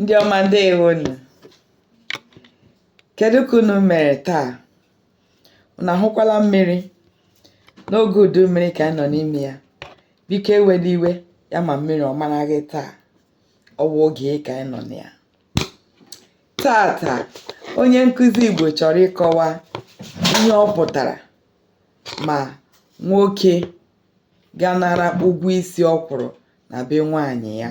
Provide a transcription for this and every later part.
Ndị ọma ndewonu. Kedu ka unu mere taa? Unu ahụkwala mmiri n'oge udu mmiri ka anyị nọ n'ime ya. Biko ewela iwe ya ma mmiri ọ mara gị taa. Ọ wụ oge ka anyị nọ na ya. Taa taa onye nkụzi Igbo chọrọ ịkọwa ihe ọ pụtara ma nwoke gaa nara ụgwọ isi ọ kwụrụ na be nwaanyị ya.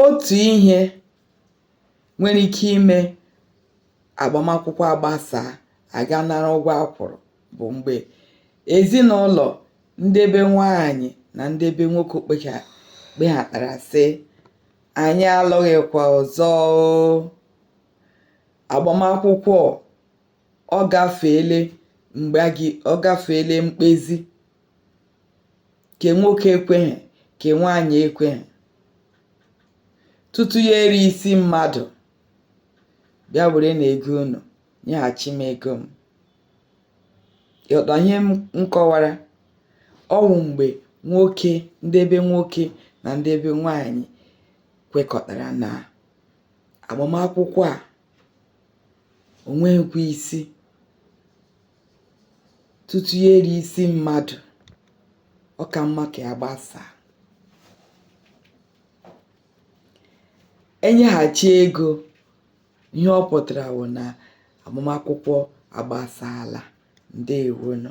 Otu ihe nwere ike ime agbamakwụkwọ agbasaa, a gaa nara ụgwọ a kwụrụ bụ mgbe ezinụlọ ndị be nwaanyị na ndị be nwoke kpecha kpehatara sị, "Anyị alụghịkwa ọzọ oo. Agbamakwụkwọ ọ gafeele mgbe a gị ọ gafeele mkpezi ke nwoke ekweghị ke nwaanyị ekweghị tutu ya eri isi mmadụ bịa werenụ ego unu nyeghachi m ego m ị ghọta ihe m kọwara ọ wụ mgbe nwoke ndị be nwoke na ndị be nwaanyị kwekọtara na agbamakwụkwọ a o nweghịkwa isi tutu ya eri isi mmadụ ọ ka mma ka ya gbasaa e nyeghachi ego ihe ọ pụtara wụ na agbamakwụkwọ agbasaala ndewonụ